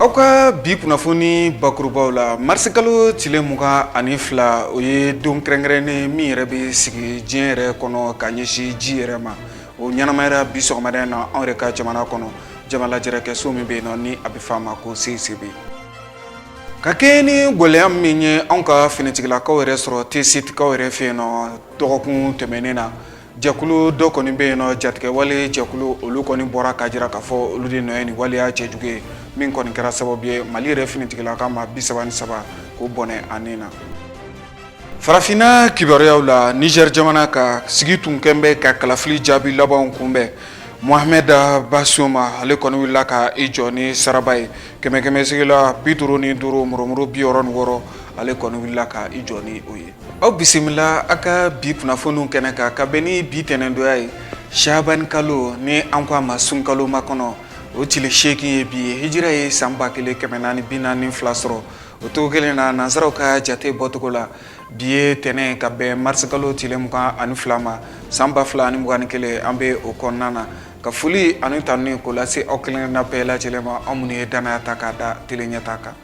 aw ka bi kunnafoni bakurubaw la marisikalo tile mugan ani fila o ye don kɛrɛnkɛrɛnnen min yɛrɛ bɛ sigi diɲɛ yɛrɛ kɔnɔ ka ɲɛsin ji yɛrɛ ma o ɲɛnamayara bi sɔgɔmada in na anw yɛrɛ ka jamana kɔnɔ jamalajɛrɛkɛso min bɛ yen nɔ ni a bɛ fɔ a ma ko cicb ka kɛɲɛ ni gɛlɛya min ye anw ka finitigilakaw yɛrɛ sɔrɔ tesitikaw yɛrɛ fɛ yen nɔ dɔgɔkun tɛmɛnen na Jɛkulu dɔ kɔni bɛ yen nɔ jatigɛwale jɛkulu olu kɔni bɔra ka jira k'a fɔ olu de nɔ ye nin waleya cɛjugu ye min kɔni kɛra sababu ye mali yɛrɛ finitigilaka maa bi saba ni saba k'o bɔnɛ a ni na farafinna kibaruyaw la nizɛri jamana ka sigi tun kɛlen bɛ ka kalafili jaabi labanw kunbɛn Mohamed Bazoum ale kɔni wulila ka i jɔ ni saraba ye kɛmɛkɛmɛsigila bi duuru ni duuru murumuru bi wɔɔrɔ ni wɔɔrɔ ale kɔni wulila ka i jɔ ni o ye aw bisimila a ka bi kunnafoniw kɛnɛ kan ka bɛn ni bi tɛnɛndonya ye shabani kalo ni an ko a ma sunkalo makɔnɔ o tile seegin ye bi ye hijira ye san ba kelen kɛmɛ naani bi naani fila sɔrɔ o cogo kelen na nansaraw ka jate bɔcogo la bi ye tɛnɛn ka bɛn marisikalo tile mugan ani fila ma san ba fila ani mugan ni kelen an bɛ o kɔnɔna na ka foli ani tanuni k'o lase aw kelenkelenna bɛɛ lajɛlen ma aw minnu ye danaya ta k'a da tele ɲɛtaa kan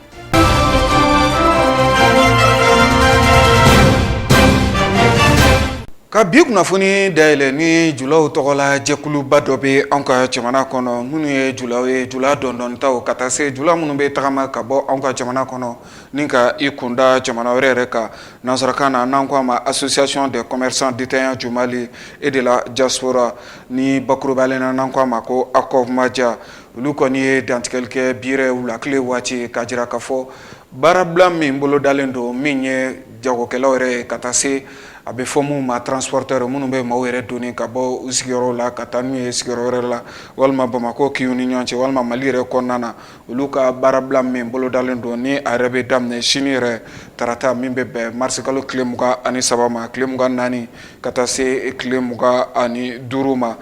Ka bi kunnafoni dayɛlɛ ni julaw tɔgɔ la jɛkuluba dɔ bɛ anw ka jamana kɔnɔ minnu ye julaw ye jula dɔndɔnitaw ka taa se jula minnu bɛ tagama ka bɔ anw ka jamana kɔnɔ ni ka i kunda jamana wɛrɛ yɛrɛ kan nansarakan na n'an ko a ma association des commerçants détaillants du Mali et de la diaspora ni bakurubalen na n'an ko a ma ko ACOVMADIA olu kɔni ye dantigɛli kɛ bi yɛrɛ wulakile waati ka jira k'a fɔ baarabila min bolo dalen don min ye jagokɛlaw yɛrɛ ye ka taa se a bɛ fɔ minnu ma transporteurs minnu bɛ maaw yɛrɛ doni ka bɔ u sigiyɔrɔ la ka taa n'u ye sigiyɔrɔ wɛrɛ la walima Bamakɔ kinw ni ɲɔgɔn cɛ walima Mali yɛrɛ kɔnɔna na olu ka baarabila min bolo dalen don ni a yɛrɛ bɛ daminɛ sini yɛrɛ tarata min bɛ bɛn marisikalo tile mugan ani saba ma tile mugan naani ka taa se tile mugan ani duuru ma.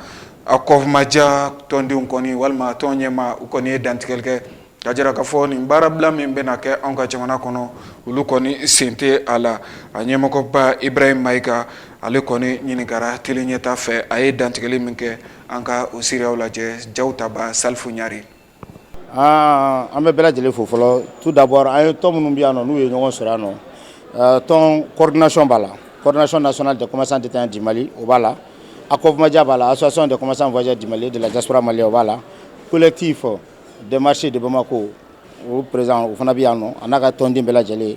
ACOVMADIA tɔndenw kɔni walima tɔn ɲɛmaaw kɔni ye dantigɛli kɛ ka jira k'a fɔ nin baarabila min bɛna kɛ anw ka jamana kɔnɔ olu kɔni sen tɛ a la a ɲɛmɔgɔba Ibrahim Mayiga ale kɔni ɲininkara tele ɲɛtaa fɛ a ye dantigɛli min kɛ an ka o seereyaw lajɛ jaw tabaa Salifu Ɲare aa an bɛ bɛɛ lajɛlen fo fɔlɔ tout d'abord an ye tɔn minnu bɛ yan nɔ n'u ye ɲɔgɔn sɔrɔ yan nɔ euh, tɔn coordination b'a la coordination nationale des commerçants détaillants du Mali o b'a la ACOVMADIA b'a la association des commerçants voyageurs du Mali de la diaspora malienne o b'a la collectif des marchés de Bamako o président o fana bɛ yan nɔ a n'a ka tɔnden bɛɛ lajɛlen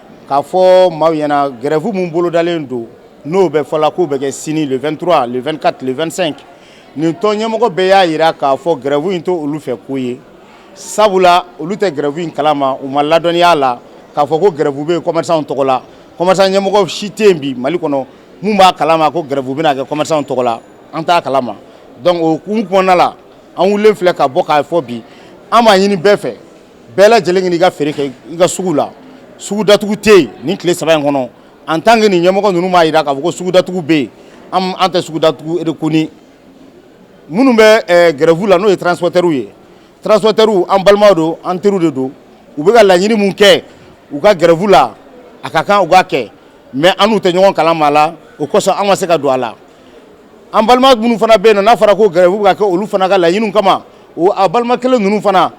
k'a fɔ maaw ɲɛna grève min bolodalen don n'o bɛ fɔla k'o bɛ kɛ sini le 23 le 24 le 25 nin tɔn ɲɛmɔgɔ bɛɛ y'a jira k'a fɔ grève in tɛ olu fɛ ko ye sabula olu tɛ grève in kalama u ma ladɔnniya la k'a fɔ ko grève bɛ commerçants tɔgɔ la commerçant ɲɛmɔgɔ si tɛ yen bi Mali kɔnɔ mun b'a kalama ko grève bɛna kɛ commerçants tɔgɔ la an t'a kalama donc o hukumu kɔnɔna la an wulilen filɛ ka bɔ k'a fɔ bi an b'a ɲini bɛɛ fɛ bɛɛ lajɛlen k'i ka feere kɛ i ka sugu la sugu datugu tɛ yen nin tile saba in kɔnɔ en tant que nin ɲɛmɔgɔ ninnu m'a jira k'a fɔ ko sugu datugu bɛ yen an tɛ sugu datugu erekoni minnu bɛ eh, grève la n'o ye transporteurs ye transporteurs an balimaw don an teriw de don u bɛ ka laɲini mun kɛ u ka grève la a ka kan u k'a kɛ mais an n'u tɛ ɲɔgɔn kalama a la o kosɔn an ma se ka don a la an balima minnu fana bɛ yen nɔ n'a fɔra ko grève bɛ ka kɛ olu fana ka laɲiniw kama o a balima kelen ninnu fana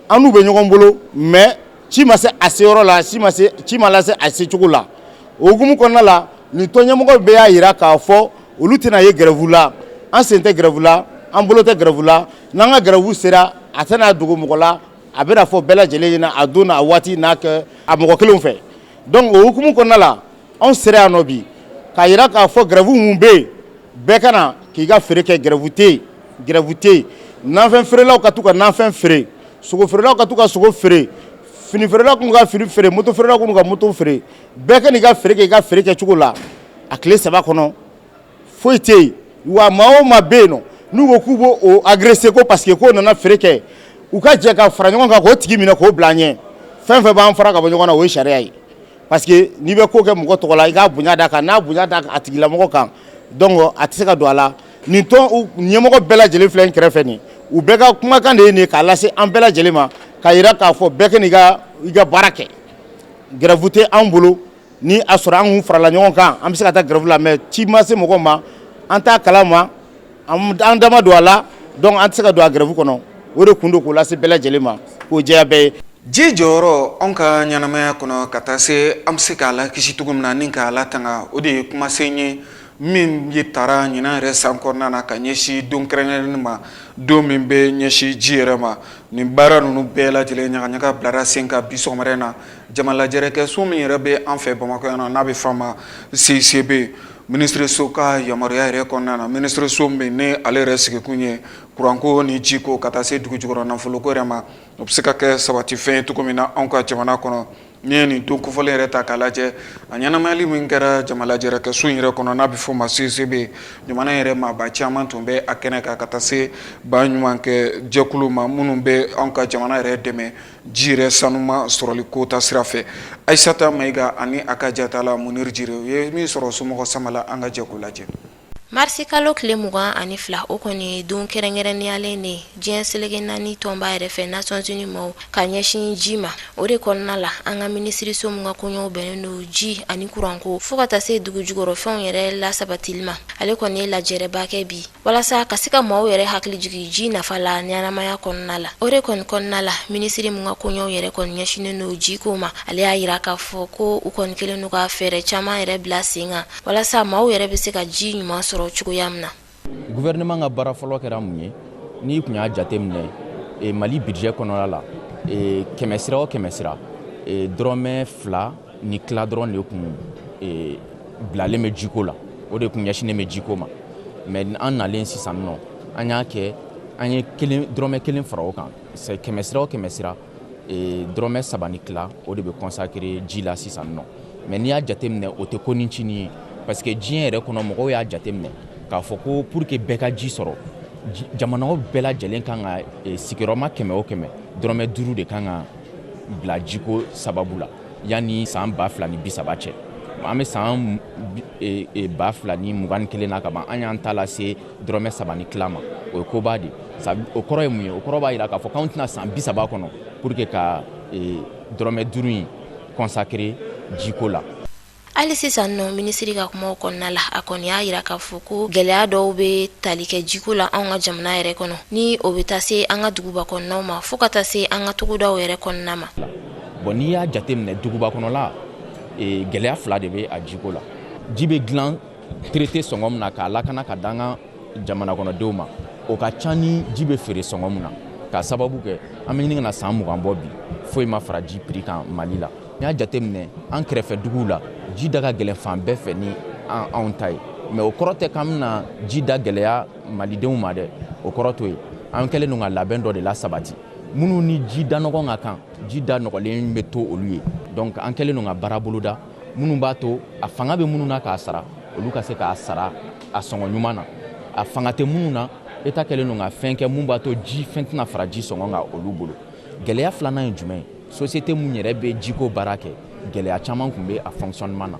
an n'u bɛ ɲɔgɔn bolo mais ci ma se a se yɔrɔ la, ci ma lase a se cogo la. O hukumu kɔnɔna la, nin tɔn ɲɛmɔgɔ bɛɛ y'a jira k'a fɔ olu tɛna ye grève la. An sen tɛ grève la, an bolo tɛ grève la, n'an ka grève sera, a tɛna dogo mɔgɔ la, a bɛna fɔ bɛɛ lajɛlen ɲɛna a don n'a waati n'a kɛ a mɔgɔ kelenw fɛ. Donc o hukumu kɔnɔna la, anw sera yan nɔ bi k'a jira k'a fɔ grève mun bɛ yen bɛɛ ka na k'i ka feere kɛ grève tɛ yen nafɛn feerelaw ka taa u ka nafɛn feere sogo feerelaw ka taa u ka sogo feere fini feerelaw k'u ka fini feere moto feerelaw k'u ka moto feere bɛɛ ka n'i ka feere kɛ i ka feere kɛ cogo la a tile saba kɔnɔ foyi tɛ yen wa maa o maa bɛ yen nɔ n'u ko k'u b'o agresser ko parce que k'o nana feere kɛ u ka jɛ ka fara ɲɔgɔn kan k'o tigi minɛ k'o bila an ɲɛ fɛn fɛn b'an fara ka bɔ ɲɔgɔn na o ye sariya ye Parce que n'i bɛ ko kɛ mɔgɔ tɔgɔ la i k'a bonya d'a kan n'a bonya da a tigilamɔgɔ kan donc a tɛ se ka don a la nin tɔn ɲɛmɔgɔ bɛɛ lajɛlen filɛ n kɛrɛfɛ nin u bɛɛ ka kumakan de ye nin ye k'a lase an bɛɛ lajɛlen ma k'a jira k'a fɔ bɛɛ ka n'i ka baara kɛ grève tɛ an bolo ni a sɔrɔ an kun farala ɲɔgɔn kan an bɛ se ka taa grève la mais ci ma se mɔgɔ ma an t'a kalama an dama don a la donc an tɛ se ka don a grève kɔnɔ o de kun don k'o lase bɛɛ lajɛlen ma k'o jɛya bɛɛ ye ji jɔyɔrɔ anw ka ɲɛnamaya kɔnɔ ka taa se an bɛ se k'a lakisi cogo min na ni k'a latanga o de ye kumasen ye min ye taara ɲinan yɛrɛ san kɔnɔna na ka ɲɛsin don kɛrɛnkɛrɛnnen ma don min bɛ ɲɛsin ji yɛrɛ ma nin baara ninnu bɛɛ lajɛlen ɲagaɲaga bilara sen kan bi sɔgɔma yɛrɛ na jama lajɛrɛ kɛ so min yɛrɛ bɛ an fɛ Bamakɔ yan na n'a bɛ f'a ma CICB Minisiriso ka yamaruya yɛrɛ kɔnɔna na minisiriso min ni ale yɛrɛ sigikun ye kuranko ni ji ko ka taa se dugu jukɔrɔ nafolo ko yɛrɛ ma o bɛ se ka kɛ sabati fɛn ye cogo min na anw ka jamana kɔnɔ n'i ye nin don kofɔlen yɛrɛ ta k'a lajɛ a ɲɛnamayali min kɛra jama lajɛrɛ kɛ so in yɛrɛ kɔnɔ n'a bɛ f'a ma CICB jamana yɛrɛ maaba caman tun bɛ a kɛnɛ kan ka taa se baɲumankɛ jɛkuluw ma minnu bɛ anw ka jamana yɛrɛ dɛmɛ Ji yɛrɛ sanuma sɔrɔli ko ta sira fɛ Ayisata Mayiga ani a ka jatala Muniri Jire u ye min sɔrɔ somɔgɔw sama la an ka jɛ k'o lajɛ marisi kalo tile mugan ani fila o kɔni ye don kɛrɛnkɛrɛnnenyalen de diɲɛ seleke naani tɔnba yɛrɛ fɛ Nations Unies maaw ka ɲɛsin ji ma o de kɔnɔna la an ka minisiriso min ka koɲɛw bɛnnen don ji ani kuranko fo ka taa se dugu jukɔrɔfɛnw yɛrɛ lasabatili ma ale kɔni ye lajɛrɛba kɛ bi walasa ka se ka maaw yɛrɛ hakili jigi ji nafa la ɲɛnamaya kɔnɔna la o de kɔni kɔnɔna la minisiri min ka koɲɛw yɛrɛ kɔni ɲɛsinnen don jiko ma ale y'a yira k'a fɔ ko u kɔni kɛlen don ka fɛɛrɛ caaman yɛrɛ bila sen kan walasa maaw yɛrɛ be se ka ji ɲuman sɔrɔ cogoya min na guvɛrɛnɛman ka baara fɔlɔ kɛra mun ye n'i kun y'a jate minɛ e, mali budget kɔnɔna la e, kɛmɛ sira o kɛmɛ sira e, dɔrɔmɛ fila ni tila dɔrɔn de kun e, bilalen bɛ jiko la o de kun ɲɛsinnen bɛ jiko ma mais an nalen sisan nɔ an y'a kɛ an ye dɔrɔmɛ kelen fara o kan kɛmɛ sira o kɛmɛ sira e, dɔrɔmɛ saba ni tila o de bɛ consacrer ji la sisan nɔ mais n'i y'a jateminɛ o tɛ ko ncinin ye parce que diɲɛ yɛrɛ kɔnɔ mɔgɔw y'a jateminɛ k'a fɔ ko pour que bɛɛ ka ji sɔrɔ jamanaw bɛɛ lajɛlen kan ka e, sigiyɔrɔma kɛmɛ o kɛmɛ dɔrɔmɛ duuru de kan ka bila jiko sababu la yanni san ba fila ni bisaba cɛ an bɛ san e, e, ba fila ni mugan ni kelen na ka ban an y'an ta lase dɔrɔmɛ saba ni tila ma o ye koba de o kɔrɔ ye mun ye o kɔrɔ b'a jira k'a fɔ k'anw tɛna san bisaba kɔnɔ pour que ka e, dɔrɔmɛ duuru in consacrer jiko la hali sisan nɔ minisiri ka kumaw kɔnɔna la a kɔni y'a yira k'a fɔ ko gɛlɛya dɔw bɛ tali kɛ jiko la anw ka jamana yɛrɛ kɔnɔ ni o bɛ taa se an ka duguba kɔnɔnaw ma fo ka taa se an ka togodaw yɛrɛ kɔnɔna ma bon n'i y'a jateminɛ duguba kɔnɔla e, gɛlɛya fila de bɛ a jiko la ji bɛ dilan traité sɔngɔ min na k'a lakana k'a d'an ka jamana kɔnɔdenw ma o ka ca ni ji bɛ feere sɔngɔ min na k'a sababu kɛ an bɛ ɲini ka na san mugan bɔ bi foyi ma fara ji prix kan mali la n'i y'a jate minɛ an kɛrɛfɛ duguw la ji da ka gɛlɛn fan bɛɛ fɛ ni anw ta ye mais o kɔrɔ tɛ k'an bɛna ji da gɛlɛya malidenw ma dɛ o kɔrɔ to ye an kɛlen don ka labɛn dɔ de lasabati minnu ni ji da nɔgɔn ka kan ji da nɔgɔlen bɛ to olu ye donc an kɛlen don ka baara boloda minnu b'a to a fanga bɛ minnu na k'a sara olu ka se k'a sara a sɔngɔ ɲuman na a fanga tɛ minnu na État kɛlen don ka fɛn kɛ mun b'a to ji fɛn tɛna fara ji sɔngɔ kan olu bolo gɛlɛya filanan ye jumɛn ye société mun yɛrɛ bɛ jiko baara kɛ gɛlɛya caman kun bɛ a fonctionnement na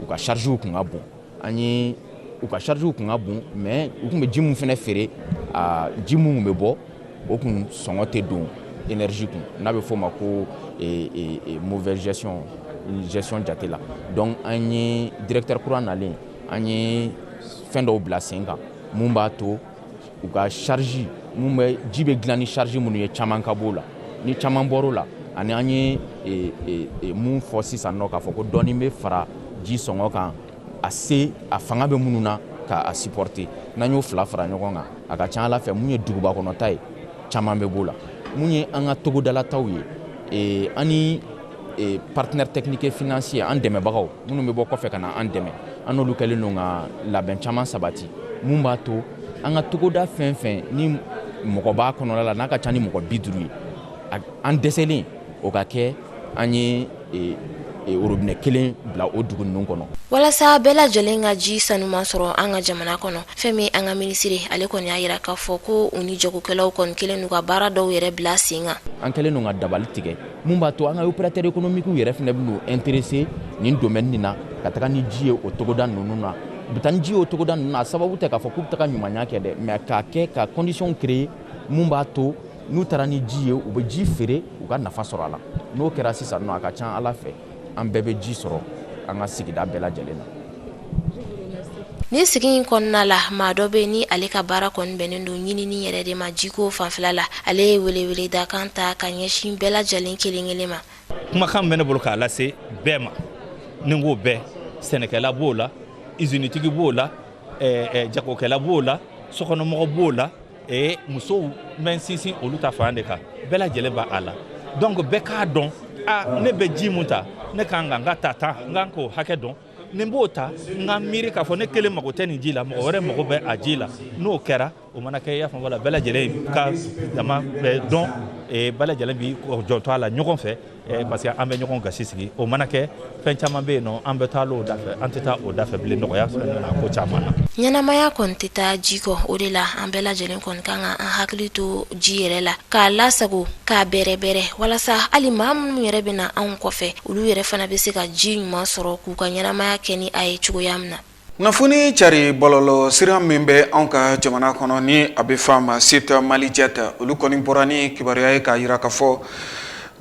u ka chargew kun ka bon an ye u ka chargew kun ka bon mais u kun bɛ ji mun fɛnɛ feere a ji mun kun bɛ bɔ o kun sɔngɔ tɛ don énergie kun n'a bɛ f'o ma ko eh, eh, eh, mauvaise gestion jate la donc an ye directeur kura nalen an ye fɛn dɔw bila sen kan mun b'a to u ka charge mun bɛ ji bɛ dilan ni charge minnu ye caman ka b'o la ni caman bɔr'o la ani an ye e, e, e, mun fɔ sisan nɔ k'a fɔ ko dɔɔni bɛ fara ji sɔngɔ kan a se a fanga bɛ minnu na ka a supporter n'an y'o fila fara ɲɔgɔn kan a ka ca ala fɛ mun ye duguba kɔnɔta ye caman bɛ b'o la mun ye an ka togodalataw ye ani e partenaire technique et financier an dɛmɛbagaw minnu bɛ bɔ kɔfɛ ka na an dɛmɛ an n'olu kɛlen don ka labɛn caman sabati mun b'a to an ka togoda fɛn fɛn ni mɔgɔ b'a kɔnɔla la n'a ka ca ni mɔgɔ bi duuru ye an dɛsɛlen o ka kɛ an ye e, e, orobinɛ kelen bila o dugu ninnu kɔnɔ walasa bɛɛ lajɛlen ka ji sanuman sɔrɔ an ka jamana kɔnɔ fɛn min an ka minisiri ale kɔni y'a yira k'a fɔ ko u ni jagokɛlaw kɔni kɛlen don ka baara dɔw yɛrɛ bila sen kan an kɛlen don ka dabali tigɛ mun b'a to an ka opérateur économique yɛrɛ fɛnɛ bɛn'u intéresser nin domaine nin na ka taga ni ji ye o togoda ninnu na u bɛ taa ni ji ye o togoda ninnu na a sababu tɛ k'a fɔ k'u bɛ taga ɲumanya kɛ dɛ mais k'a kɛ ka condition créer mun b'a to n'u taara ni ji ye u bɛ ji feere u ka nafa sɔrɔ a la n'o kɛra sisan nɔ a ka ca ala fɛ an bɛɛ bɛ ji sɔrɔ an ka sigida bɛɛ lajɛlen na ni sigi in kɔnɔna la maa dɔ bɛ yen ni ale ka baara kɔni bɛnnen don ɲinini yɛrɛ de ma jiko fanfɛla la ale ye weleweledakan ta ka ɲɛsin bɛɛ lajɛlen kelen kelen ma kumakan bɛ ne bolo k'a lase bɛɛ ma ni n ko bɛɛ sɛnɛkɛla b'o la izinitigi b'o la eh, eh, jagokɛla b'o la sokɔnɔmɔgɔ b'o la ee musow n bɛ sinsin olu ta fan de kan bɛɛ lajɛlen bɛ a la donc bɛɛ k'a dɔn a ne bɛ ji mun ta ne kan ka n ka ta ta n kan k'o hakɛ dɔn ni n b'o ta n ka miiri k'a fɔ ne kelen mago tɛ nin ji la mɔgɔ wɛrɛ mago bɛ a ji la n'o kɛra o mana kɛ i y'a faamu la bɛɛ lajɛlen ka dama bɛ dɔn bɛɛ lajɛlen b'i janto a la ɲɔgɔn fɛ Eh, parce que an bɛ ɲɔgɔn gasi sigi o mana kɛ fɛn caman bɛ yen nɔ an bɛ taa o da fɛ an tɛ taa o da fɛ bilen nɔgɔya bɛ na ko caman na ɲɛnamaya kɔni tɛ taa ji kɔ o de la an bɛɛ lajɛlen kɔni kan ka an hakili to ji yɛrɛ la k'a lasago k'a bɛrɛbɛrɛ walasa hali maa minnu yɛrɛ bɛ na anw kɔfɛ olu yɛrɛ fana bɛ se ka ji ɲuman sɔrɔ k'u ka ɲɛnamaya kɛ ni a ye cogoya min na kunnafoni cari bɔlɔlɔ sira min bɛ anw ka jamana kɔnɔ ni a bɛ fɔ a ma site Malijet olu kɔni bɔra ni kibaruya ye k'a jira k'a fɔ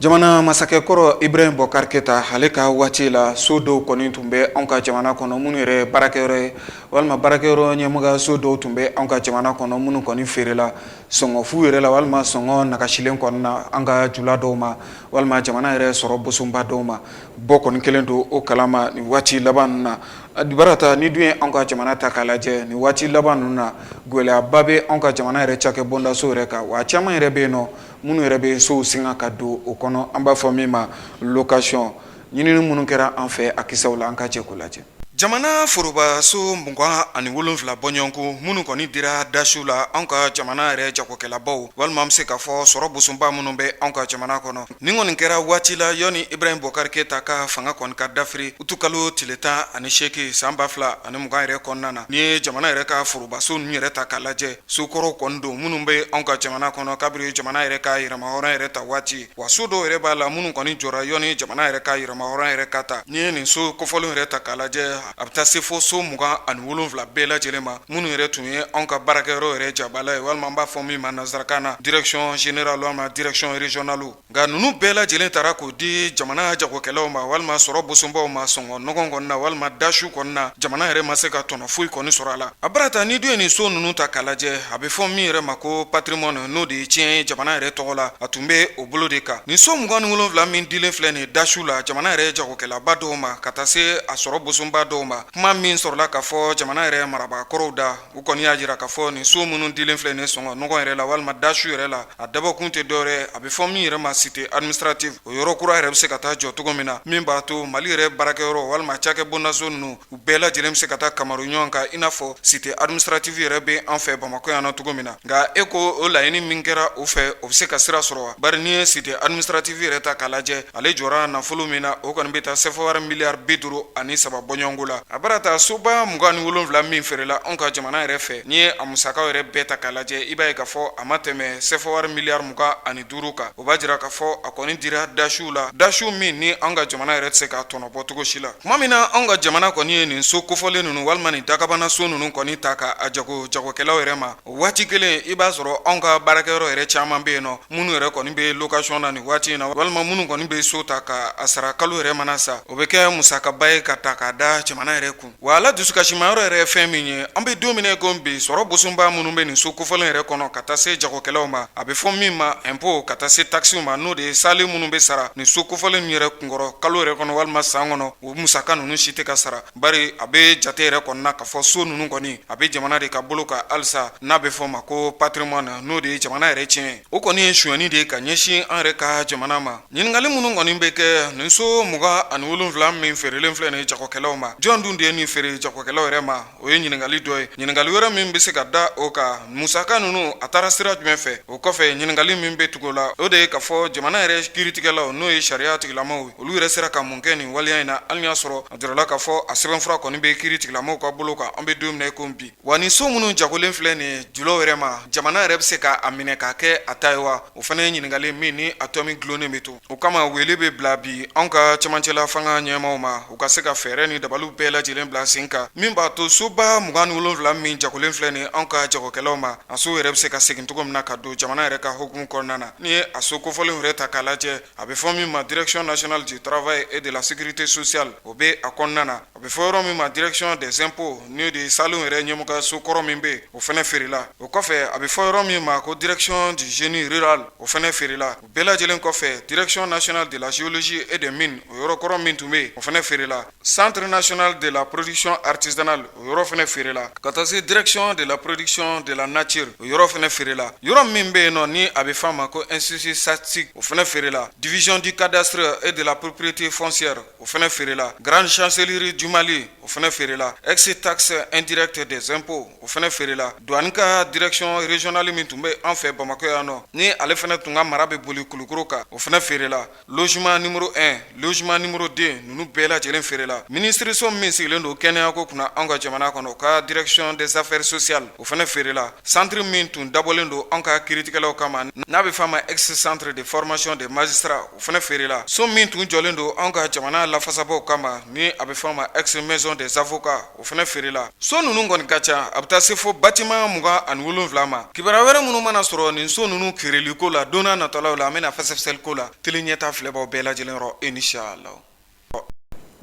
jamana masakɛ kɔrɔ Ibrahim Boubacar Keïta ale ka waati la so dɔw kɔni tun bɛ anw ka jamana kɔnɔ minnu yɛrɛ baarakɛyɔrɔ ye walima baarakɛyɔrɔ ɲɛmɔgɔ so dɔw tun bɛ anw ka jamana kɔnɔ minnu kɔni feerela sɔngɔ fu yɛrɛ la walima sɔngɔ nagasilen kɔnɔna na an ka jula dɔw ma walima jamana yɛrɛ sɔrɔ boba dɔw ma bɔ kɔni kɛlen don o kalama waati laban na A barata n'i dun ye an ka jamana ta k'a lajɛ ni waati laban ninnu na gɛlɛyaba bɛ an ka jamana yɛrɛ cakɛ bondaso yɛrɛ kan wa caman yɛrɛ bɛ yen nɔ minnu yɛrɛ bɛ sow singa ka don o kɔnɔ an b'a fɔ min ma location ɲinini minnu kɛra an fɛ a kisɛw la an ka jɛ k'o lajɛ jamana forobaso mugan ani wolonwula bɔɲɔgɔnko minnu kɔni dira dasiw la an ka jamana yɛrɛ jagokɛlabaw walima an bɛ se k'a fɔ sɔrɔ bosunba minnu bɛ an ka jamana kɔnɔ Nin kɔni kɛra waati la yɔni Ibrahim Bubakari Keyita ka fanga kɔni ka dafiri utu kalo tile tan ani seegin san ba fila ani mugan yɛrɛ kɔnɔna na n'i ye jamana yɛrɛ ka forobaso ninnu yɛrɛ ta k'a lajɛ so kɔrɔw kɔni don minnu bɛ anw ka jamana kɔnɔ kabiri jamana yɛrɛ ka yɛrɛmahɔrɔn yɛrɛ ta waati wa so dɔw yɛrɛ b'a la minnu kɔni jɔra yɔni jamana yɛrɛ ka yɛrɛmahɔrɔn yɛrɛ ka ta n'i ye nin so kofɔlen yɛrɛ ta k'a lajɛ a bɛ taa se fo so mugan ani wolonwula bɛɛ lajɛlen ma minnu yɛrɛ tun ye anw ka baarakɛyɔrɔ yɛrɛ jabala ye walima an b'a fɔ min ma nansarakan na direction générale walima direction régionale nka ninnu bɛɛ lajɛlen taara k'o di jamana jagokɛlaw ma walima sɔrɔ bosunbaw ma sɔngɔ nɔgɔn kɔni na walima dasiw kɔni na jamana yɛrɛ ma se ka tɔnɔ foyi kɔni sɔrɔ a la a barata n'i dun ye nin so ninnu ta k'a lajɛ a bɛ fɔ min yɛrɛ ma ko patrimoine n'o de ye tiɲɛ ye jamana yɛrɛ tɔgɔ la a tun bɛ o bolo de kan nin so mugan ni wolonwula min dilen filɛ nin dasiw la jamana yɛrɛ jago kɛlaba dɔw ma ka taa se a sɔrɔ bosunba dɔw ma kuma min sɔrɔla k'a fɔ jamana yɛrɛ marabaa kɔrɔw da u kɔni y'a jira k'a fɔ nin so minnu dilen filɛ nin sɔngɔ nɔgɔn yɛrɛ la walima dasiw yɛrɛ la a dabɔkun tɛ dɔwɛrɛ a bɛ fɔ min yɛrɛ ma cité administrative o yɔrɔ kura yɛrɛ bɛ se ka taa jɔ cogo min na min b'a to mali yɛrɛ baarakɛyɔrɔ walima cakɛ bondaso ninnu u bɛɛ lajɛlen bɛ se ka taa kamaru ɲɔgɔn kan i n'a fɔ cité administrative yɛrɛ bɛ an fɛ bamakɔ yan na cogo min na nka e ko o laɲini min kɛra o fɛ o bɛ se ka sira sɔrɔ wa bari n'i ye cité administrative yɛrɛ ta k'a lajɛ ale jɔra nafolo min na o kɔni bɛ taa sɛfɔwari miliyari bi duuru ani saba bɔɲɔgɔnko la a bara ta soba mugan ni wolonwula min feerela anw ka jamana yɛrɛ fɛ n'i ye a musakaw yɛrɛ bɛɛ ta k'a lajɛ i b'a ye k'a fɔ a ma tɛmɛ sɛfɔwari miliyari mugan ani duuru kan o b'a jira k'a fɔ a kɔni dira dasiw la dasiw min ni an ka jamana yɛrɛ tɛ se k'a tɔnɔ bɔ cogo si la tuma min na an ka jamana kɔni ye nin so kofɔlen ninnu walima nin dagabana so ninnu kɔni ta k'a jago jagokɛlaw yɛrɛ ma waati kelen i b'a sɔrɔ anw ka baarakɛyɔrɔ yɛrɛ caman bɛ yen nɔ minnu yɛrɛ kɔni bɛ location na nin waati in na walima minnu kɔni bɛ so ta k'a sara kalo yɛrɛ mana sa o bɛ kɛ musakaba ye ka ta k'a da jamana yɛrɛ kun Wa a la dusukasimayɔrɔ yɛrɛ ye fɛn min ye an bɛ don min ko bi sɔrɔ bosunba minnu bɛ nin so kofɔlen yɛrɛ kɔnɔ ka taa se jagokɛlaw ma a bɛ fɔ min ma impôt ka taa se takisiw ma n'o de ye saalen minnu bɛ sara nin so kofɔlen min yɛrɛ kunkɔrɔ kalo yɛrɛ kɔnɔ walima san kɔnɔ o musaka ninnu si tɛ ka sara bari a bɛ jate yɛrɛ kɔnɔna k'a fɔ so ninnu kɔni a bɛ jamana de ka bolo kan halisa n'a bɛ fɔ ma ko patrimoine n'o de ye jamana yɛrɛ tiɲɛ o kɔni ye sonyani de ye ka ɲɛsin an yɛrɛ ka jamana ma Ɲininkali minnu kɔni bɛ kɛ nin so mugan ani wolonwula min feerelen filɛ nin jagokɛlaw ma jɔn dun de ye nin feere jagokɛlaw yɛrɛ ma o ye ɲininkali dɔ ye ɲininkali wɛrɛ min bɛ se ka da o kan musaka ninnu a taara sira jumɛn fɛ o kɔfɛ ɲininkali min bɛ tugu o la o de ye k'a fɔ jamana yɛrɛ kiritigɛlaw n'o ye sariya tigilamaw olu yɛrɛ sera ka mun kɛ nin waleya in na hali y'a sɔrɔ a jirala k'a fɔ a sɛbɛnfura kɔni bɛ kiritigilamaw ka bolo kan an bɛ don min na i ko bi Wa nin so minnu jagolen filɛ nin ye julaw yɛrɛ ma jamana yɛrɛ bɛ se k'a minɛ k'a kɛ a ta ye wa o fana ye ɲininkali min ni a tomi dulonnen bɛ to o kama wele bɛ bila bi an ka cɛmancɛla fanga ɲɛmaw ma u ka se ka fɛɛrɛ ni dabaliw bɛɛ lajɛlen bila sen kan min b'a to soba mugan ni wolonwula min jagolen filɛ nin an ka jagokɛlaw ma a so yɛrɛ bɛ se ka segin cogo min na ka don jamana yɛrɛ ka hukumu kɔnɔna na ni ye a so kofɔlen yɛrɛ ta k'a lajɛ a bɛ fɔ min ma direction nationale du travail et de la sécurité sociale o bɛ a kɔnɔna na A bɛ fɔ yɔrɔ min ma direction des impôts n'o de ye saalen yɛrɛ ɲɛmɔgɔ so kɔrɔ min bɛ o fana feerela o kɔfɛ a bɛ fɔ yɔrɔ min ma ko direction du génie rural o fana feerela o bɛɛ lajɛlen kɔfɛ direction nationale de la géologie et des mines o yɔrɔ kɔrɔ min tun bɛ yen o fana feerela centre national de la production artisanale o yɔrɔ fana feerela ka taa se direction de la production de la nature o yɔrɔ fana feerela yɔrɔ min bɛ yen nɔ ni a bɛ f'a ma ko institut statistique o fana feerela division du cadastre et de la propriété foncière o fana feerela grande chancellerie du Mali o fana feerela ex taxe indirecte des impôts o fana feerela douane ka direction régionale min tun bɛ an fɛ Bamakɔ yan nɔ ni ale fana tun ka mara bɛ boli Kulukoro kan o fana feerela logement numéro 1 logement numéro 2 ninnu bɛɛ lajɛlen feerela ministreso min sigilen don kɛnɛyako kunna anw ka jamana kɔnɔ o ka direction des affaires sociales o fana feerela centre min tun dabɔlen don anw ka kiritigɛlaw kama n'a bɛ f'a ma ex centre de formation des magistrats o fana feerela so min tun jɔlen don anw ka jamana lafasabaaw kama ni a bɛ f'a ma ex maison des avocats o fana feerela so ninnu kɔni ka ca a bɛ taa se fo bâtiment mugan ani wolonwula ma kibaru wɛrɛ minnu mana sɔrɔ nin so ninnu kiirili ko la donna natɔlaw la an bɛna fɛsɛfɛsɛli k'o la Tele Ɲɛtaa filɛbaw bɛɛ lajɛlen yɔrɔ inshallah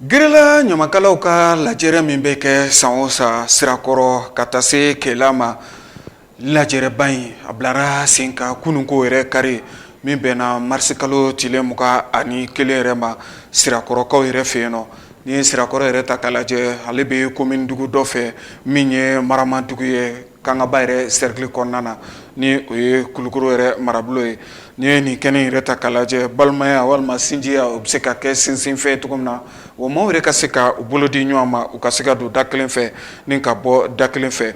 Gɛrɛla ɲamakalaw ka lajɛrɛ min bɛ kɛ san o san sirakɔrɔ ka taa se Kɛla ma lajɛrɛba in a bilara sen kan kununko yɛrɛ kari min bɛnna marisi kalo tile mugan ani kelen yɛrɛ ma sirakɔrɔkaw yɛrɛ fɛ yen nɔ ni sirakɔrɔ yɛrɛ ta k'a lajɛ ale bɛ komini dugu dɔ fɛ min ye maramadugu ye Kangaba yɛrɛ cercle kɔnɔna na ni o ye Kulukoro yɛrɛ marabolo ye n'i ye nin kɛnɛ in yɛrɛ ta k'a lajɛ balimaya walima sinjiya o bɛ se ka kɛ sinsinfɛn ye cogo min na wa maaw yɛrɛ ka se ka u bolo di ɲɔgɔn ma u ka se ka don da kelen fɛ ni ka bɔ da kelen fɛ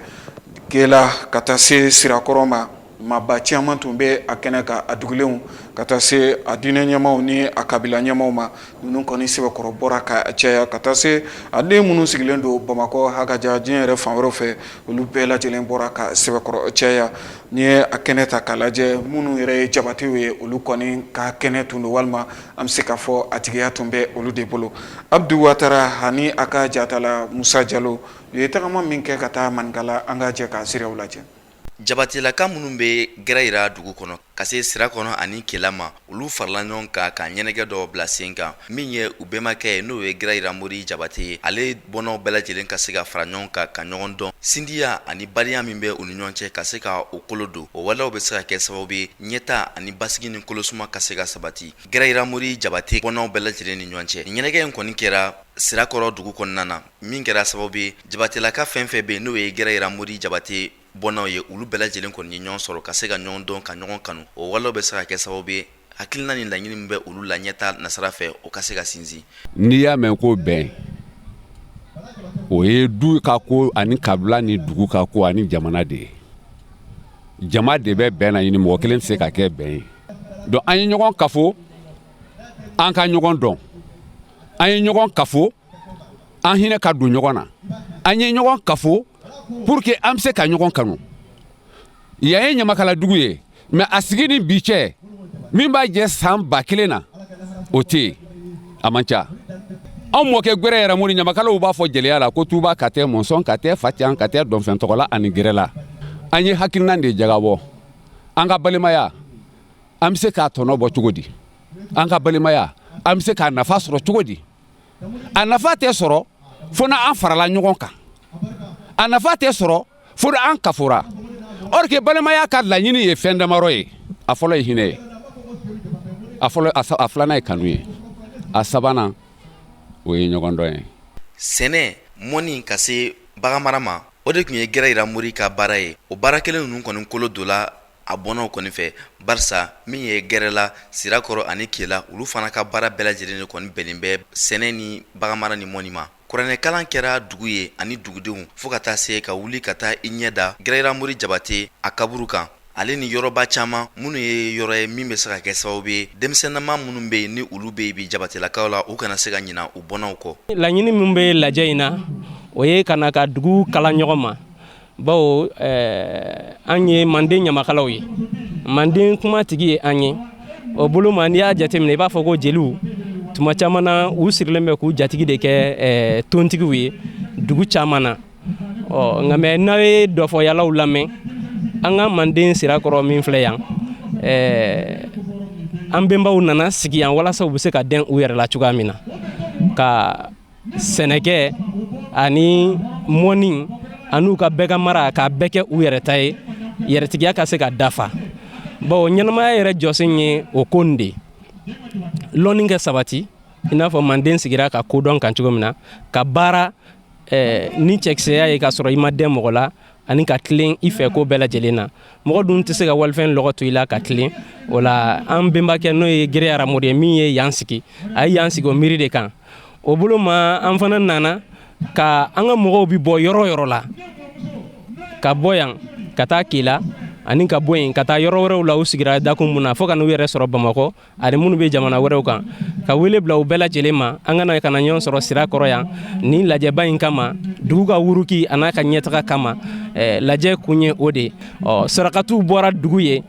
Kɛla ka taa se Sirakɔrɔ ma Maaba caman tun bɛ a kɛnɛ kan a dugulenw ka taa se a diinɛ ɲɛmaaw ni a kabila ɲɛmaaw ma ninnu kɔni sɛbɛkɔrɔ bɔra ka caya ka taa se a den minnu sigilen don bamakɔ hakaja diɲɛ yɛrɛ fan wɛrɛ fɛ olu bɛɛ lajɛlen bɔra ka sɛbɛkɔrɔ caya n'i ye a kɛnɛ ta k'a lajɛ minnu yɛrɛ ye jabatew ye olu kɔni ka kɛnɛ tun don walima an bɛ se k'a fɔ a tigiya tun bɛ olu de bolo abudu watara ani a ka jatala musa jalo u ye tagama min kɛ ka taa maninkala an ka jɛ k'a siraw lajɛ Jabatelaka minnu bɛ gɛrɛyira dugu kɔnɔ ka se sirakɔrɔ ani kela ma olu farala ɲɔgɔn kan ka ɲɛnajɛ dɔ bila sen kan min ye u bɛmakɛ ye n'o ye gɛrɛyira mori jabate ye ale bɔnnaw bɛɛ lajɛlen ka se ka fara ɲɔgɔn kan ka ɲɔgɔn dɔn sindiya ani balimaya min bɛ u ni ɲɔgɔn cɛ ka se ka o kolo don o walew bɛ se ka kɛ sababu ye ɲɛta ani basigi ni kolo suma ka se ka sabati gɛrɛyira mori jabate bɔnnaw bɛɛ lajɛlen ni ɲɔgɔn cɛ ɲɛnajɛ in kɔni kɛra sirakɔrɔ dugu kɔnɔna na min kɛra sababu ye jabatelaka fɛn fɛn bɛ n'o ye gɛrɛyira mori jabate bɔnnaw ye olu bɛɛ lajɛlen kɔni ye ɲɔgɔn sɔrɔ ka se ka ɲɔgɔn dɔn ka ɲɔgɔn kanu o walew bɛ se ka kɛ sababu ye hakilina ni laɲini min bɛ olu la ɲɛta nasira fɛ o ka se ka sinsin n'i y'a mɛn ko bɛn o ye du ka ko ani kabila ni dugu ka ko ani jamana de ye jama de bɛ bɛn naɲini mɔgɔ kelen tɛ se ka kɛ bɛn ye donc an ye ɲɔgɔn kafo an ka ɲɔgɔn dɔn an ye ɲɔgɔn kafo an hinɛ ka don ɲɔgɔn na an ye ɲɔgɔn kafo pour que an bɛ se ka ɲɔgɔn kanu yan ye ɲamakala dugu ye mais a sigi ni bi cɛ min b'a jɛ san ba kelen na o tɛ yen a man ca anw mɔkɛ gɛrɛyira mori ɲamakalaw b'a fɔ jeliya la ko tuba katɛ mɔnsɔn katɛ facan katɛ dɔnfɛn tɔgɔla ani gɛrɛla an ye hakilina de jagabɔ an ka balimaya an bɛ se k'a tɔnɔ bɔ cogo di an ka balimaya an bɛ se k'a nafa sɔrɔ cogo di a nafa tɛ sɔrɔ fo n'an farala ɲɔgɔn kan a nafa tɛ sɔrɔ fo n'an kafora or que balimaya ka laɲini ye fɛn damadɔ ye a fɔlɔ ye hinɛ ye a filanan ye kanu ye a sabanan o ye ɲɔgɔn dɔn ye sɛnɛ mɔni ka se bagan mara ma o de tun ye gɛrɛyira mori ka baara ye o baara kelen ninnu kɔni kolo donna a bɔnnaw kɔni fɛ barisa min ye gɛrɛla sirakɔrɔ ani kela olu fana ka baara bɛɛ lajɛlen de kɔni bɛnnen bɛ sɛnɛ ni baganmara ni mɔni ma kuranɛ kalan kɛra dugu ye ani dugudenw fo ka taa se ka wuli ka taa i ɲɛ da gɛrɛyira mori jabate a kaburu kan ale ni yɔrɔba caman minnu ye yɔrɔ ye min bɛ se ka kɛ sababu ye denmisɛnnama minnu bɛ yen ni olu bɛ yen bi jabatelakaw la u kana se ka ɲina u bɔnnaw kɔ laɲini min bɛ lajɛ in na o ye ka na ka dugu kala ɲɔgɔn ma bawo eh, an ye manden ɲamakalaw ye manden kuma tigi ye an ye o bolo ma n'i y'a jateminɛ i b'a fɔ ko jeliw tuma caman na u sirilen bɛ k'u jatigi de kɛ eh, tontigiw ye dugu caman na ɔ nka mɛ n'a ye dɔfɔyalaw lamɛn an ka manden sirakɔrɔ min filɛ yan eh, an benbaw nana sigi yan walasa u bɛ se ka dɛn u yɛrɛ la cogoya min na ka sɛnɛkɛ ani mɔni an'u ka bɛɛ ka mara k'a bɛɛ kɛ u yɛrɛ ta ye yɛrɛtigiya ka se ka dafa bawo ɲɛnamaya yɛrɛ jɔsen ye o ko nin de ye lɔnni kɛ sabati i n'a fɔ manden sigira ka kodɔn kan cogo min na ka baara eh, ni cɛkisɛya ye k'a sɔrɔ i ma dɛn mɔgɔ la ani ka tilen i fɛ ko bɛɛ lajɛlen na mɔgɔ dun tɛ se ka walifɛn lɔgɔ to i la ka tilen o la an benbakɛ n'o ye gere aramori ye min ye yan sigi a ye yan sigi o miiri de kan o bolo ma an fana nana ka an ka mɔgɔw bi bɔ yɔrɔ yɔrɔ la ka bɔ yan ka taa kela ani ka bɔ yen ka taa yɔrɔ wɛrɛw la u sigira dakun mun na fo ka n'u yɛrɛ sɔrɔ bamakɔ Ani minnu bɛ jamana wɛrɛw kan ka wele bila u bɛɛ lajɛlen ma an ka na ɲɔgɔn sɔrɔ sirakɔrɔ yan ni lajɛba in kama dugu ka wuruki an'a ka ɲɛtaga kama lajɛ kun ye o de ye ɔ sarakatiw bɔra dugu ye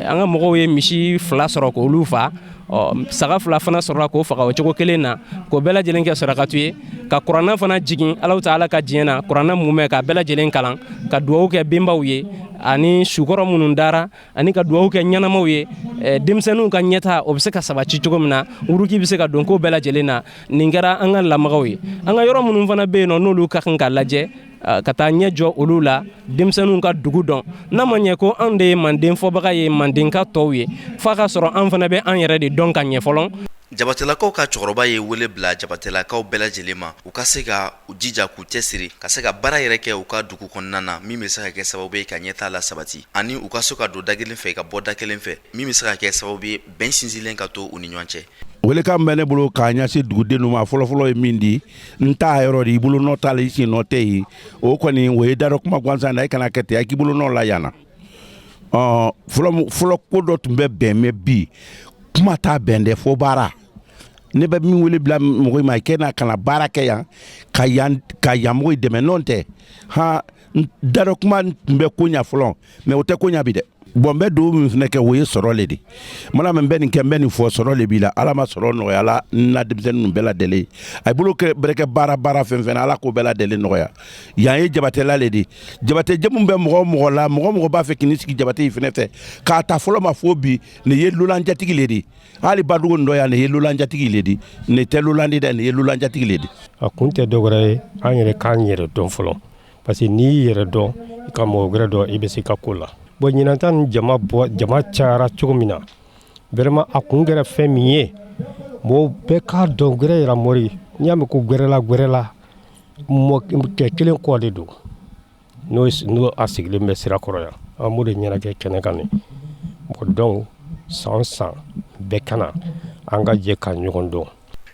an ka mɔgɔw ye misi fila sɔrɔ k'olu faa ɔ saga fila fana sɔrɔ k'o faga o cogo kelen na k'o bɛɛ lajɛlen kɛ sarakati ye ka kuranɛ fana jigin alahu taala ka diɲɛ na kuranɛ mumɛ ka bɛɛ lajɛlen kalan ka dugawu kɛ benbaw ye ani sukɔrɔ minnu dara ani ka dugawu kɛ ɲɛnamaw ye eh, denmisɛnninw ka ɲɛta o bɛ se ka sabati cogo min na wuruki bɛ se ka don ko bɛɛ lajɛlen na nin kɛra an ka lamagaw ye an ka yɔrɔ minnu fana bɛ yen nɔ n'olu ka kan ka lajɛ eh, ka taa ɲɛ jɔ olu la denmisɛnninw ka dugu dɔn n'a ma ɲɛ ko anw de ye manden fɔbaga ye mandenka tɔw ye f'a ka sɔrɔ an fana bɛ an yɛrɛ de dɔn ka ɲɛ fɔlɔ jabatelakaw ka cɛkɔrɔba ye wele bila jabatelakaw bɛɛ lajɛlen ma u ka se ka u jija k'u cɛ siri ka se ka baara yɛrɛ kɛ u ka dugu kɔnɔna na min bɛ se ka kɛ sababu ye ka ɲɛtaa la sabati ani u ka sɔn ka don da kelen fɛ ka bɔ da kelen fɛ min bɛ se ka kɛ sababu ye bɛn sinsinlen ka to u ni ɲɔgɔn cɛ welekan bɛ ne bolo k'a ɲɛsin dugudenw ma fɔlɔfɔlɔ ye min di n ta yɔrɔ de i bolo nɔ t'a la i sen nɔ tɛ yen o kɔni o ye dadɔ kuma gansan na i kana kɛ ten a k'i bolo nɔ la yan na fɔlɔ ko dɔ tun bɛ bɛn mɛ bi kuma t'a bɛn dɛ fo baara ne bɛ min wele bila mɔgɔ ma kɛ n'a ka na baara kɛ yan ka yan ka yan mɔgɔ dɛmɛ n'o tɛ han dadɔ kuma tun bɛ ko ɲa fɔlɔ mɛ o tɛ ko ɲa bi dɛ bɔn n bɛ dugawu min fana kɛ o ye sɔrɔ le de mana min bɛ nin kɛ n bɛ nin fɔ sɔrɔ le b'i la ala ma sɔrɔ nɔgɔya la n na denmisɛnnin ninnu bɛɛ lajɛlen a bolo bɛrɛ kɛ baara baara fɛn fɛn na ala k'o bɛɛ lajɛlen nɔgɔya yan ye jabatela le de jabate jamu bɛ mɔgɔ mɔgɔ la mɔgɔ mɔgɔ b'a fɛ k'i sigi jabate in fana fɛ k'a ta fɔlɔ ma fo bi nin ye lolan jatigi le de ye hali badugu nin dɔ yan ne ye lolan jatigi le di ne tɛ lolan di dɛ ne ye lolan jatigi le di a kun tɛ dɔwɛrɛ ye an yɛrɛ k'an yɛrɛ dɔn fɔlɔ parce que n'i y'i yɛrɛ dɔn i ka mɔgɔ wɛrɛ dɔn i bɛ se ka ko la bon ɲinan ta ni jama cayara cogo min na vraiment a kun kɛra fɛn min ye mɔgɔw bɛɛ k'a dɔn gɛrɛ yira mori n'i y'a mɛn ko gɛrɛla gɛrɛla mɔkɛ kelen kɔ de don n'o a sigilen bɛ sirakɔrɔ yan an b'o de ɲɛnajɛ kɛnɛ kan nin bon donc san san bɛɛ ka na an ka jɛ ka ɲɔgɔn dɔn